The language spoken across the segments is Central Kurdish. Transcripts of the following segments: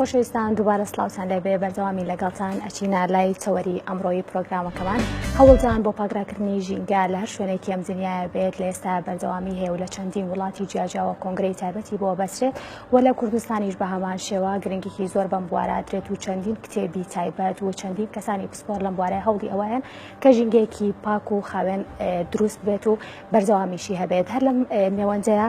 خۆشەویستان دووبارە سلااوان لێ بێ بەردەوامی لەگەڵتان ئەچینە لای چاوەری ئەمڕۆی پرۆگرامەکەمان هەوڵدان بۆ پاگراکردنی ژینگە لە هەر شوێنێک کەم دنیاە بێت لە ئێستا بەردەوامی هەیە و لە چەندین وڵاتی جیاجاوە کۆنگری تایبەتی بۆ بەسرێت و لە کوردستانیش بە هەمان شێوە گرنگێکی زۆر بەم بوارادرێت و چەندین کتێبی تایبەت و چەندین کەسانی پسپۆر لەم بوارە هەوڵی ئەوەیان کە ژینگەیەکی پاک و خاوێن دروست بێت و بەردەوامیشی هەبێت هەر لەم نێوەندەیە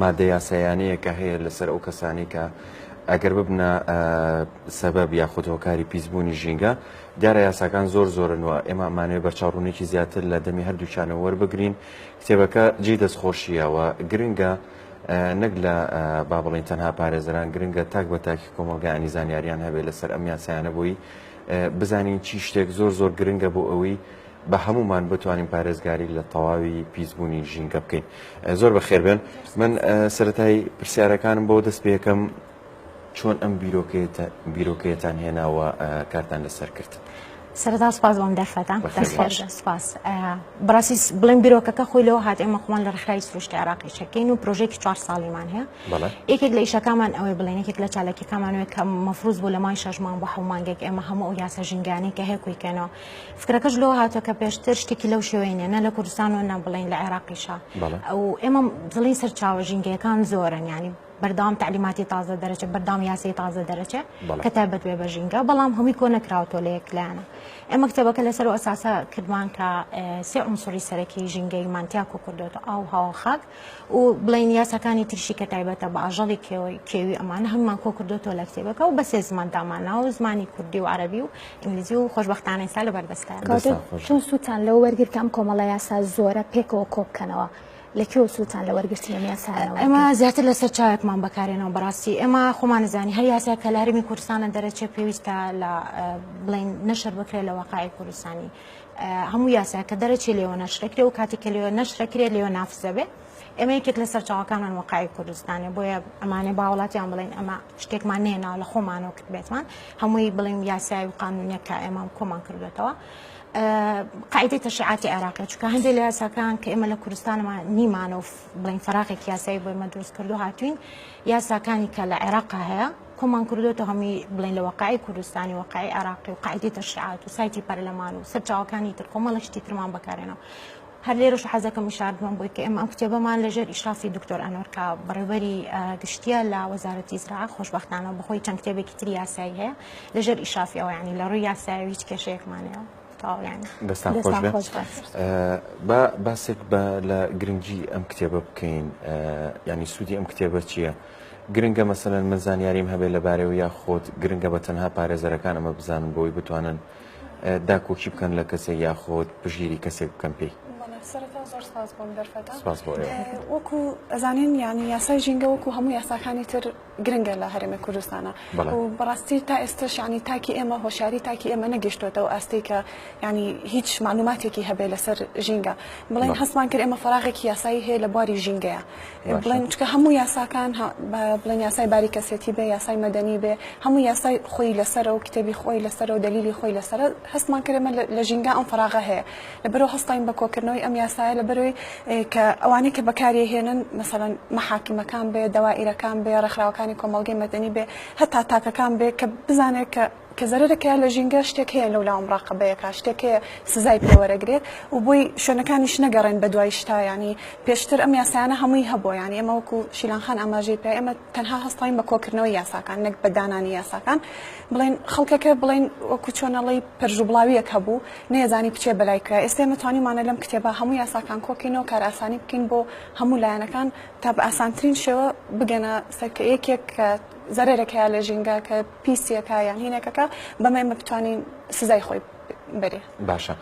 ماددە یاسایانەیە کە هەیە لەسەر ئەو کەسانەی کە ئەگەر ببنە سەبەب یاخود هۆکاری پیسبوونی ژینگە دیارە یاساکان زۆر زۆرن و ئێمە ئەمانەوە بەرچاوڕوونێکی زیاتر لە دەمی هەردووچانە وەربگرین کتێبەکە جێ دەستخۆشیەوە گرنگە نەک لە با بڵین تەنها پارێزران گرنگە تاک بە تاکی کۆمەلگانی زانیاریان هەبێت لەسەر ئەم یاسایانە بووی بزانین چی شتێک زۆر زۆر گرنگە بۆ ئەوەی بە هەموومان بتوانین پارێزگاری لە تەواوی پیسبوونی ژینگە بکەین زۆر بە خێربێن من سەتای پرسیارەکانم بۆ دەست پێەکەم چۆن ئەم بیرۆکەتان هێناوە کارتان لەسەر کرد. سەردا سپاس بۆم دەرفەتە سپاس بڕاستی بڵێن بیرۆکەکە خۆی لەوە هاات ئێمە خۆمان لە ڕخرای سروشتی عراقی شەکەین و پرۆژێکی چوار ساڵیمان هەیە یەکێک لە ئیشەکانمان ئەوەی بڵێن یەکێک لە چاالکیەکانمانوێت کە مەفروز بۆ لە مای شەژمان بۆ حومانگەێک ئێمە هەموو ئەو یاسە ژنگانی کە هەیە کویکەنەوە فکرەکەش لەوە هاتووە کە پێشتر شتێکی لەو شێوەی نیە نە لە کوردستان و نە بڵین لە عێراقیشە ئەو ئێمە دڵی سەرچاوە ژینگەکان زۆرن ینی بەردام تعلیماتی تازە دەرەچێ بەردام یاسی تازە دەرەچێ کە تایبەت بێ بە ژینگە بەڵام هەمووی کۆ نەکراوتۆ لە یەکلایەنە ئێمە کتێبەکە لەسەر ئەساسە کردمان کە سێ عنسری سەرەکی ژینگەی مانتیاکۆ کردوێتە ئاو هاوخاک و بڵێین یاساکانی تریشی کە تایبەتە بە ئاژەڵی کێوی ئەمانە هەممان کۆ کردوتەوە لە کتێبەکە و بەسێ زمان دامانا و زمانی کوردی و عربی و ئینگلیزی و خۆشببختانەی سا لە بەردەستان چون سووتان لەو وەرگرتە ئەم کۆمەڵە یاسا زۆرە پێکەوە کۆبکەنەوە. لەکێ و سووتان لە وەرگرتی لە یاسانەوە ئەمە زیاتر لەسەر چاوێکمان بەکارێنەوە بەڕاستی ئێمە خۆمانزانی هەر یاسا کە لارمی کوردستانە دەرەچێ پێویستە لە بڵین نەشەر بکرێت لە وەقاعی کوردستانی هەموو یاسایەک کە دەرەچێ لێوە نەشرەکرێ و کاتێک کە لێوە نەشرەکرێت لێوە نافزەبێ ئێمە یەکێک لە سەرچاوەکانمان وەقای کوردستانێ بۆیە ئەمانێ باوڵاتیان بڵێن ئەمە شتێکمان نێ ناو لە خۆمانەوە کرد بێتمان هەمووی بڵێم یاسایی و قانونە کە ئێمە کۆمان کردێتەوە. قاعدەی تەشعاتی عێراقی چکە هەندێک لە یاساکان کە ئێمە لە کوردستانەوە نیمانۆف بڵین فراغێک یاسایی بۆ ئمە دروست کردو هاتوین یاساکانی کە لە عێراق هەیە کۆمان کردۆتە هەموی بڵێن لە وەقعی کوردستانی وەقعی عێراقی و قاعدی تەشریعات و سایتی پەرلەمان و سەرچاوەکانی تر کۆمەڵە شتی ترمان بەکارێنەوە هەر لێرەش حەزەکەم شاردمان بۆی کە ئێمە ئەم کتێبەمان لەژێر ئیشرافی دکتۆر ئەنۆرکە بەڕێوەری گشتیە لە وەزارەتی زرا خۆشببختانە بەخۆی چەند کتێبێکی تری یاسایی هەیە لەژێر ئیشرافی ئەوە ینی لە ڕووی یاسایی هیچ کێشەیەکمانەوە دەستان خۆش بە باسێک بە لە گرنگی ئەم کتێبە بکەین ینی سوودی ئەم کتێبە چییە؟ گرنگە مەسەلەن من زانیاریم هەبێت لەبارەی و یاخود گرنگە بە تەنها پارێزەرەکان ئەمە بزانن بۆی بتوانن داکۆکی بکەن لە کەسێک یاخود پژیری کەسێک بکەن پێی. وەکو ئەزانین ینی یاسای ژینگە وەکو هەموو یاساکانی تر گرنگە لە هەرێمە کوردستانە بەڕاستی تا ئێستا شانی تاکی ئێمە هۆشاری تاکی ئێمە نەگەشتوێتەوە ئاستی کە ینی هیچ معلوماتێکی هەبێ لەسەر ژینگە بڵێن هەستمان کرد ئێمە فراغێکی یاسایی هەیە لە بواری ژینگەیە بڵێن چکە هەموو یاساکان بڵێن یاسای باری کەسێتی بێ یاسای مەدەنی بێ هەموو یاسای خۆی لەسەر و کتێبی خۆی لەسەر و دلیلی خۆی لەسەر هەستمان کرێمە لە ژینگا ئەم فراغە هەیە لە بەرەوە هەستین بە کۆکردنەوەی ئەم یاسایە لە بەرەوەی کە ئەوانەی کە بەکاری هێنن مەسەەن محاکمەکان بێ دەوائیرەکان بێ ڕێکخراوەکانی کۆمەلگەی مەدەنی بێ هەتا تاکەکان بێ کە بزانێت کە کە زەرەرەکە لە ژینگە شتێک هەیە لەولاوە مڕاقەبەیەکا شتێک هەیە سزای پێ وەرەگرێت و بۆی شوێنەکانیش نەگەڕێن بە دوای شتا یانی پێشتر ئەم یاسایانە هەمووی هەبووە یانی ئێمە وەکو شیلان خان ئاماژەی پێ ئێمە تەنها هەستاین بە کۆکردنەوەی یاساکان نەک بە دانانی یاساکان بڵێن خەڵکەکە بڵێن وەکو چۆنەڵی پەرژوبڵاویەک هەبوو نەیەزانی بچێ بەلای کرا ئێستا ئێمە توانیمانە لەم کتێبە هەموو یاساکان کۆکەینەوە کار ئاسانی بکەین بۆ هەموو لایەنەکان تا بە ئاسانترین شێوە بگەنە سەر کە یەکێک کە زەرەرەکەیە لە ژینگە کە پیسیەکە یان هینەکەکە بەمەی بتوانین سزای خۆی بەرێ باشە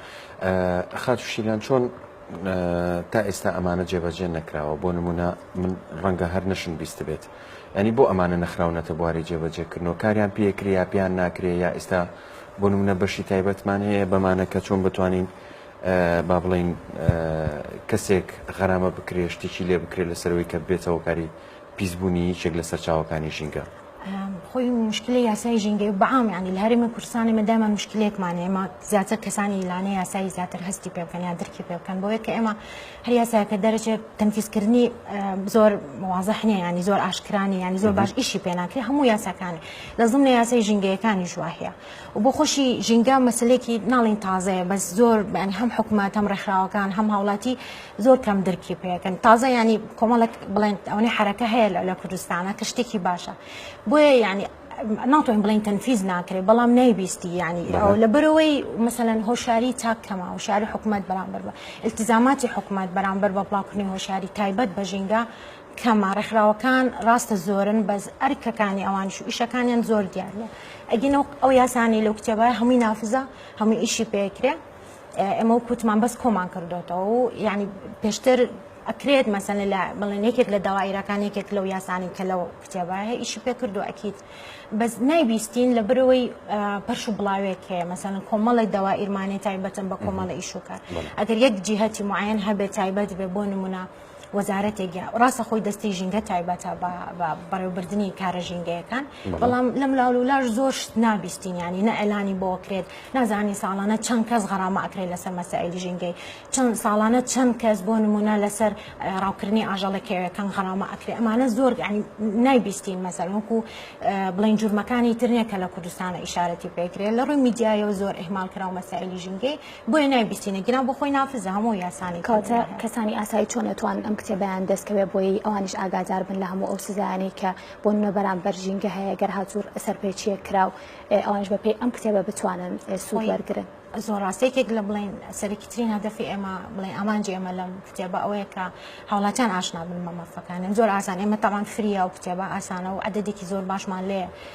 خاتو شیلان چۆن تا ئێستا ئەمانە جێبەجێ نەکراوە بۆ نمونە من ڕەنگە هەر نەشم بیست بێت ینی بۆ ئەمانە نەخراونەتە بواری جێبەجێکردنەوە کاریان پێکرێ یا پێیان ناکرێ یا ئێستا بۆ نمونە بەشی تایبەتمان هەیە بەمانە کە چۆن بتوانین با بڵین کەسێک غەرامە بکرێشتێکی لێ بکرێت لەسەرەوەی کە بێتەوە کاری پیسبوونی یەکێک لە سەرچاوەکانی ژینگە خۆی مشکلی یاسای ژینگەی بەعام ینی لە هەرێمی کوردستان ئێمە دایمە مشکلێکمان ئێمە زیاتر کەسانی لانە یاسایی زیاتر هەستی پێ بکەن یا درکی پێ بکەن بۆیە کە ئێمە هەر یاساکە دەرەچێت تەنفیزکردنی زۆر وازحنیە ینی زۆر ئاشکرانی ینی زۆر باش ئیشی پێناکرێت هەموو یاساکانی لە زمنە یاسای ژینگەیەکانی شوواهەیە و بۆ خۆشی ژینگە مەسلێکی ناڵین تازەیە بەس زۆر بەنی هەم حکوومەت هەم ڕێکخراوەکان هەم هاوڵاتی زۆر کەم درکی پێەکەن تازە ینی کۆمەڵک بڵێن ئەوەی حرەکە هەیە لە کوردستانە کە شتێکی باشە بۆیە ینی ناتوانین بڵین تەنفیز ناکرێت بەڵام نەیبیستی ینی ئەو لە برەوەی مەسەەن هۆشاری چاک کەما هۆشاری حکوومەت بەرامبەر بە التزاماتی حکوومەت بەرامبەر بە بڵاوکردنی هۆشاری تایبەت بە ژینگە کەمە ڕێکخراوەکان ڕاستە زۆرن بەس ئەرکەکانی ئەوانش و ئیشەکانیان زۆر دیارە ئەگینە ئەو یاسانی لەو کتێبە هەمووی نافزە هەمووی ئیشی پێکرێ ئێمە و کووتمان بەس کۆمان کردوێتەوە و یعنی پێشتر ئەکرێت مەسەن لە بڵێن یەکێک لە داوایرەکان یەکێک لەو یاسانی کە لەو کتێبە هەیە ئیشی پێ کردو ئەکییت بەس نایبیستین لە برەوەی پەرش و بڵاوێک هەیە مەسەن کۆمەڵی داوا ئیرمانێ تایبەتن بە کۆمەڵە ئیشوکار ئەگەر یەک جیهتی معەن هەبێت تایبەت بێ بۆ نمونە وەزارەتێک یا ڕاستە خۆی دەستی ژینگە تایبەتە بە بەڕێوبردننی کارە ژینگەیەکان بەڵام لەم لاول و لاش زۆر شت نابیستین ینی نە ئەلانی بۆ کرێت نازانی ساڵانە چەند کەس غەرامە ئەکرێت لەسەر مەسائلی ژینگەی چەند ساڵانە چەند کەس بۆ نمونە لەسەر ڕاوکردنی ئاژەڵەکەوەکان غەرامە ئەکرێت ئەمانە زۆر نایبیستین مەسەرۆکو بڵین جورمەکانی ترنیە کە لە کوردستانە ئشارەتی پێکرێت لە ڕووی میدیایەوە زۆر ئهمال کراوە مەسائلی ژینگەی بۆیە نایبیستینە گیران بۆ خۆی نافزە هەموو یاسانی کەواتە کەسانی ئاسایی چۆن ئەتوان ئەم کتێبیان دەستکەوێ بۆی ئەوانیش ئاگادار بن لە هەموو ئەو سزایانی کە بۆ منە بەرامبەر ژینگە هەیە گەر هاتوور سەرپێچیە کراو ئەوانش بەپی ئەم کتێبە بتوانن سوود وەرگن زۆر ڕاستێکێک لە بڵین سەرکی ترین هەدەفی ئێمە بڵێ ئامانجی ئێمە لەم کتێبە ئەوەیە کە هاوڵاتیان ئاشنا بن بە مەفەکانن زۆر ئاسان ئێمە تاوان فریا و کتێبە ئاسانە و عددێکی زۆر باشمان لێ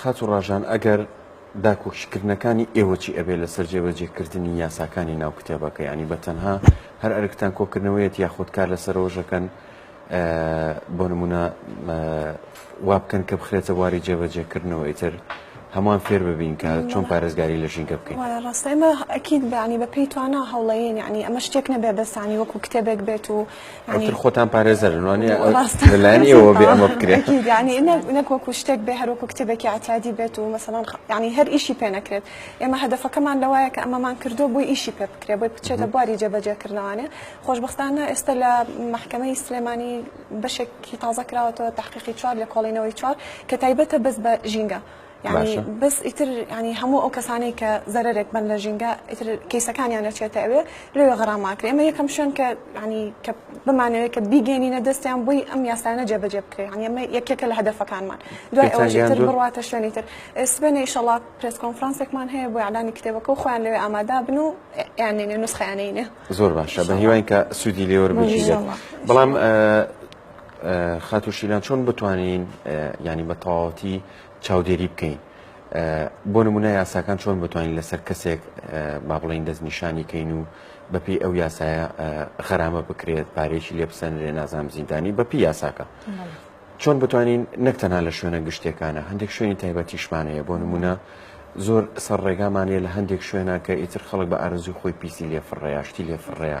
خاتو ڕاژان ئەگەر داکۆکی کردنەکانی ئێوە چی ئەبێ لەسەر جێبەجێ کردنی یاساکانی ناو کتێبەکە ینی بە تەنها هەر ئەرکتان کۆکردنەوەیەت یاخود کار لەسەرۆژەکەن بۆ نمونە وا بکەن کە بخرێتە واری جێبەجێ کردنەوە ئیتر هەمان فێر ببین کە چۆن پارێزگاری لە ژینگە بکەین ڕاستمە ئەکیید بەانی بە پێی توانا هەوڵەیە یعنی ئەمە شتێک نەبێ بەسانی وەکو کتێبێک بێت و ئەوتر خۆتان پارێزەرن وانە لەلایەن ئێوە بێ ئەمە بکرێت ینی نەک وەکو شتێک بێ هەروەکو کتێبێکی عتادی بێت و مەسەڵان ینی هەر ئیشی پێ نەکرێت ئێمە هەدفەکەمان لەوایە کە ئەمەمان کردو بۆی ئیشی پێ بکرێ بۆی بچێتە بواری جێبەجێکردنەوانێ خۆشببختانە ئێستا لە محکمەی سلێمانی بەشێکی تازە کراوەتەوە تحقیقی چوار لە کۆڵینەوەی چوار کە تایبەتە بەس بە ژینگە یانی بەس ئیتر ینی هەموو ئەو کەسانی کە زەرێک بن لە ژینگە ئیتر کەیسەکانیان نەچێتە ئەوێ لەوێ غەڕاماکرێ ئەمە یەکەم شوێن کە ینی کە بمانەوێت کە بیگەێنینە دەستیان بۆی ئەم یاسانە جێبەجێ بکرێ ینی ئەمە یەکێکە لە هەدفەکانمان دوای ئەوەتر بڕاتە شوێنی تر سبێنە ئیشەڵات پرس کۆنفرانسێکمان هەیە بۆ یادانی کتێبەکە و خۆیان لەوێ ئامادا بن و یانێنێ نوسخیانینە زۆر باشە بە هیوان کە سوودی لێوەر بژیت بەڵام خاتوشیلان چۆن بتوانین ینی بە تەواوەتی چاودێری بکەین بۆ نمونە یاساکان چۆن بتوانین لەسەر کەسێک با بڵین دەستنیشانی کەین و بەپی ئەو یاسایە غەرامە بکرێت پارێکی لێ بسەنرێ نازام زیندانی بەپی یاساکە چۆن بتوانین نەک تەنها لە شوێنە گشتەکانە هەندێک شوێنی تایبەتیشمانەیە بۆ نمونە زۆر سەر ڕێگامانەیە لە هەندێک شوێنە کە ئیتر خەڵک بە ئارزوی خۆی پیسی لێفڕێ یاشتی لێفڕێە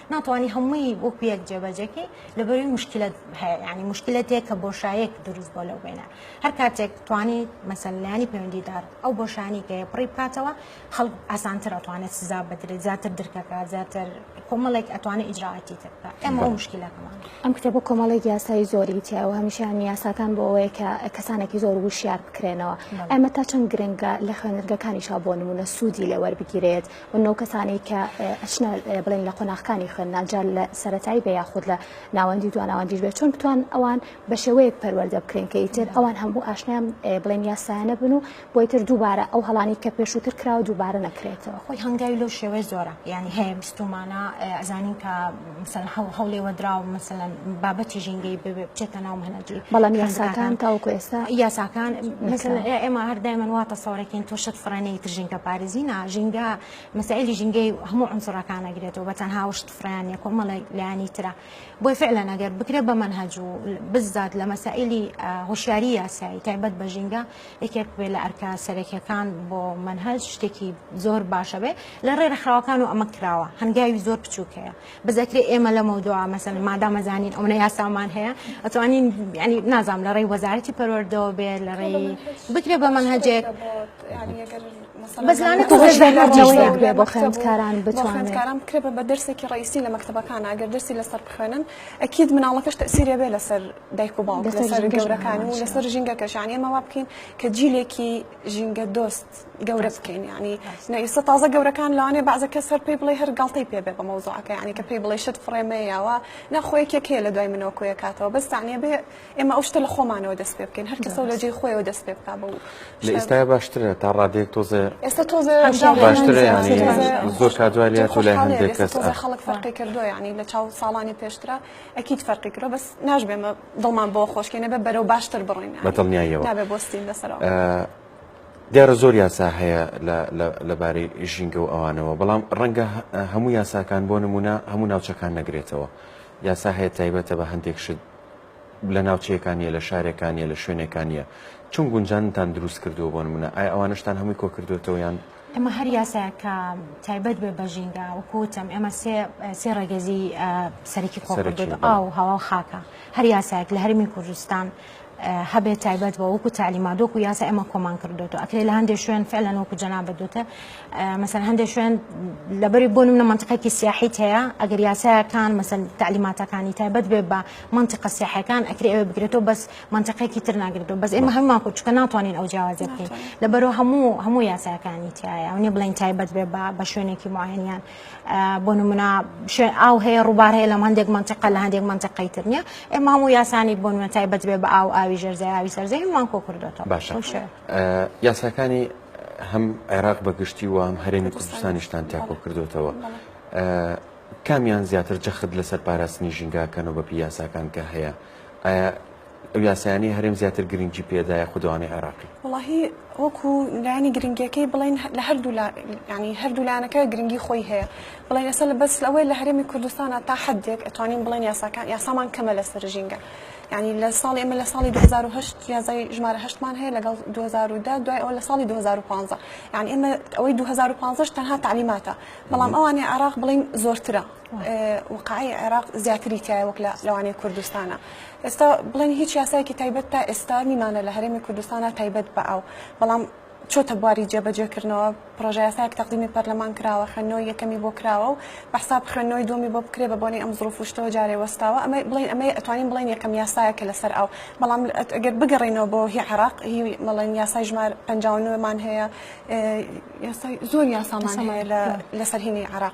ناتوانی هەمووی وەکو یەک جێبەجێکی لەبەروی مشکلت هەیە ینی مشکلەتێک کە بۆشایەک دروست بۆ لەو بینە هەر کاتێک توانی مەسللانی پەیوەندیدار ئەو بۆشانی کە پڕی بکاتەوە خەڵک ئاسانتر ئەتوانێت سزا بدرێت زیاتر درکەکە زیاتر کۆمەڵێک ئەتوانێت ئیجراعاتی تر بکە ئەمە مشکلەکەمان ئەم کتێبە کۆمەڵێک یاسایی زۆری تیاوە هەمیشیان یاساکان بۆ ئەوەیە کە کەسانێکی زۆر وشیار بکرێنەوە ئەمە تا چەند گرنگە لە خوێنەرگەکانیشا بۆ نمونە سوودی لێوەربگیرێت من ئەو کەسانەی کە ئەچنە بڵێن لە قۆناغکانی خوێندنان جار لە سەتایی بێ یاخود لە ناوەندی دو ناوەندیش بێت چۆن بتوان ئەوان بە شێوەیەک پەروەەردە بکرێن کە ئیتر ئەوان هەموو ئاشنیان بڵێن یاسایانە بن و بۆی تر دووبارە ئەو هەڵانی کە پێشووتر کراوە دووبارە نەکرێتەوە خۆی هەنگاوی لەو شێوەیە زۆرە ینی هەیە بیستمانە ئەزانین کە مەسەلەن هەوڵ هەوڵێوەدراو مەسەلەن بابەتی ژینگەی بچێتە ناو مەنەجی بەڵام یاساکان تاوکو ئێستا یاساکان مەسەلەن ئێمە هەر دایمەن واتە سەورەکەین تۆشت فڕێنەی تر ژینگە پارێزی نا ژینگە مەسائلی ژینگەی هەموو عنسرەکانە گرێتەوە بە تەنها وشت فرانە کۆمەڵە لایانی ترە بۆی فعلا ئەگەر بکرێت بە منهج و بزداد لە مەسائلی هوشیاری یاسایی تایبەت بە ژینگە یەکێک بێ لە ئەرکە سەرەکیەکان بۆ منهج شتێکی زۆر باشە بێ لە ڕێ ڕخراوەکان و ئەمە کراوە هەنگاوی زۆر بچووکەیە بزەکرێ ئێمە لە مەودوا مەسەن مادامەزانین ئەوە یاسامان هەیە ئەتوانین ینی نازام لە ڕێی وەزارەتی پەروەردەوە بێ لە ڕێی بکرێ بە منهجێک بەزانە بۆ خوێندکاران بخوێندکاران بکرێ بە دەرسێکی ڕیسی لە مەکتتەبەکان ئەگەر دەرسی لەسەر بخوێنن ئەکیید مناڵەکەش تەسیرێ بێ لەسەر دایک و باوک لەسەر گەورەکان و لەسەر ژینگەکەش یعنی ئێمە وا بکەین کە جیلێکی ژینگە دۆست گەورە بکەین ینی نەئیستا تازە گەورەکان لەوانێ بازە کە سەر پێی بڵێ هەر گڵتەی پێ بێ بە مەوزوعەکە ینی کە پێی بڵێ شت فڕێمە یاوە نەخۆیەکێک هەیە لە دوای منەوە کۆیە کاتەوە بەستانە بێ ئێمە ئەو شتە لە خۆمانەوە دەست پێ بکەین هەر کەسە لە جێ خۆیەوە دەست پێ بکە بە لە ئێستای باشترە تا ڕادێک تۆزێ ئێستا تۆزێ باشترە ینی زۆر کادوای لە تۆ لای هەندێک کەس خەڵک فەرقی کردو ینی لە چاو ساڵانی پێشترە ئەکید فەرقی کرۆ بەس ناشبێمە دڵمان بۆ خۆشکێنە بە بەرەو باشتر بڕین بە دڵنیایەوە نابێ بۆستین لەسەرەوە دیارە زۆر یاسا هەیە لەبارەی ژینگە و ئەوانەوە بەڵام ڕەنگە هەموو یاساکان بۆ نمونە هەموو ناوچەکان نەگرێتەوە یاسا هەیە تایبەتە بە هەندێک شت لە ناوچەیەکانە لە شارەکانە لە شوێنەکانە چون گونجانتان دروست کردو بۆ منە ئایا ئەوانشتان هەمووی کۆکردوێتەوەیان ئێمە هەر یاسایەک کە تایبەت بێ بە ژینگە وەکو وتم ئێمە سێ سێ ڕێگەزی سەرکی خۆکردێت سەرەکی. ئاو هەوا و خاکە هەر یاسایەک لە هەرمی کوردستان اه، هەبێت تایبەت بە وەکو تعلیمات وەکو یاسا ئێمە کۆمان کردوێتەوە ئەکرێ لە هەندێک شوێن فعلا وەکو جەنابت دوتە اه، مثلا هەندێک شوێن لەبەری بۆ نمونە منطقەکی سیاحیت هەیە ئەگەر یاسایەکان مثلا تعلیماتەکانی تایبەت بێ بە منطقە سیاحەکان ئەکرێ ئەوێ بگرێتەوە بەس مەنتیقێکی تر ناگریتەوە بەس ئێمە هەمومان کورد چونکە ناتوانین ئەو جیاوازیە بکەین لەبەرو هەموو هەموو یاساکانی تایە ئەو نیە بڵێن تایبەت بێ بە بە شوێنێکی معاینیان بۆ نمونا شوێن ئاو هەیە ڕووبار هەیە لە هەندێک منتیقە لە هەندێک منتیقەی تر نیە ئێمە هەموو یاسانی بۆ نمە تایبەت بێ بە ئاو ئاوی ژەرزای ئاوی سەرزەی هەمومان کۆ کردوێتەوە باشە یاساکانی هەم عێراق بەگشتی و هەم هەرێمی کوردستانیشتان تاکۆ کردوێتەوە کامیان زیاتر جەخت لەسەر پاراستنی ژینگاکەنەوە بە پیاساکان کە هەیە ئایا ئەو یاسایانەی هەرێم زیاتر گرنگی پێدا یاخود ئەوانەی عێراقی؟ وەڵاهی وەکو لایەنی گرنگیەکەی بڵێن لە هەردوو لا ینی هەردوو لایەنەکە گرنگی خۆی هەیە بڵێن ئێستا لە بەس لەوەی لە هەرێمی کوردستانە تا حدێک ئەتوانین بڵێن یاساکان یاسامان کەمە لەسەر ژینگە ینی لە ساڵی ئمە لە ساڵی 2010 یازای ژمارە هەشتمان هەیە لەگەڵ 2010 دوای ئەو لە ساڵی 2015 یان ئێمە ئەوەی 2015 تەنها تعلیماتە بەڵام ئەوانی عراق بڵین زۆرترە وقعی عێراق زیاتری تایە وەک لە لەوانەیە کوردستانە ئێستا بڵێن هیچ یاسایەکی تایبەت تا ئێستا نیمانە لە هەرێمی کوردستانە تایبەت بە ئەو بەڵام چۆتە بواری جێبەجێکردنەوە پرۆژەیاساک تەقدیمی پەرلەمان کراوە خوێندنەوەی یەکەمی بۆ کراوە و بەحساب خوێندنەوەی دومی بۆ بکرێ بە بۆنی ئەم زڕفشتەوە جارێ وەستاوە ئەمە بڵین ئەمە ئەتوانین بڵێن یەکەم یاسایە کە لەسەر ئەو بەڵام ئەگەر بگەڕینەوە بۆ هی عراق هی مەڵێن یاسای ژمار پنجمان هەیە یاسای زۆر یاسامان هەیە لەسەرهینی عراق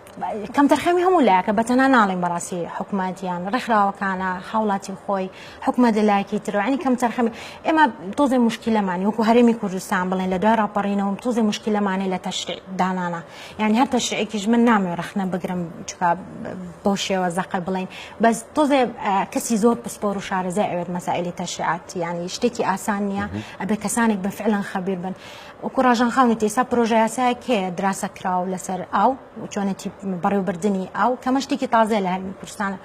کەمتەرخەمی هەموو لایەکە بەتەنها ناڵێم بەڕاستی حکومەت یان ڕێکخراوەکانە هاوڵاتی خۆی حکومەت لە لایەکی ترۆانی کەمتەرخەمی ئێمە تۆزێ مشکلەمانی وەکو هەرێمی کوردستان بڵێن لە دوای ڕاپەڕینەوەم تۆزێ مشکلەمانی لە تەشری دانانە یعنی هەر تەشرێکیش من نامێ ڕخنە بگرم چکە بۆ شێوە زەقە بڵین بەس تۆزێ کەسی زۆر پسپۆر و شارەزای ئەوێت مەسائلی تەشریعات ینی شتێکی ئاسان نییە ئەبێ کەسانێک بە فعلەن خەبیر بن وەکو ڕاژان خان وتی ئێستا پرۆژەیاسایەک هەیە دراسە کراو لەسەر ئاو و چۆنێتی بەڕێوبردنی ئاو کەمە شتێکی تازەیە لە هەرمی کوردستانە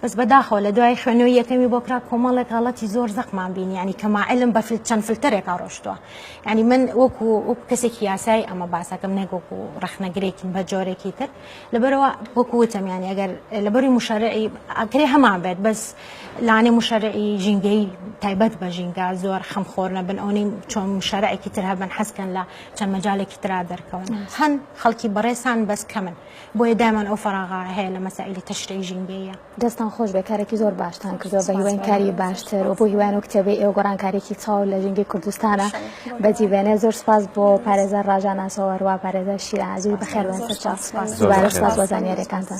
بەس بەداخەوە لە دوای خوێنەوەی یەکەمی بۆ کرا کۆمەڵێک غەڵەتی زۆر زەقمان بینی ینی کەما علم بە چەند فلتەرێکا ڕۆشتووە ینی من وەکو وەکو کەسێکی یاسایی ئەمە باسەکەم نەک وەکو ڕخنەگرێکیم بە جۆرێکی تر لەبەرەوە وەکو وتم یانی ئەگەر لەبەری مشارعی ئەکرێ هەمان بێت بەس لانێ مشارعی ژینگەی تایبەت بە ژینگە زۆر خەم خۆر نەبن ئەونی چۆن مشارعێکی تر هەبن حەزکەن لە چەند مەجالێکی تررا دەرکەون هەن خەڵکی بەڕێسان بەس کەمن بۆیە دامان ئەو فراغا هەیە لە مەسائلی تەشری ژینگەیە دەستتان خۆش بێت کارێکی زۆر باشتان کردووە بە هیواین کاری باشتر و بۆ هیوان و کتێبی ئێوە گۆڕانکارێکی چاو لە ژینگەی کوردستانە بەجی بێنێ زۆر سپاس بۆ پارێزەر ڕاژاناسەوە هەروە پارێزەر شیرازی بەخێر بێن سەر چاو سپاس دووبارە سپاس بۆ زانیاریەکانتان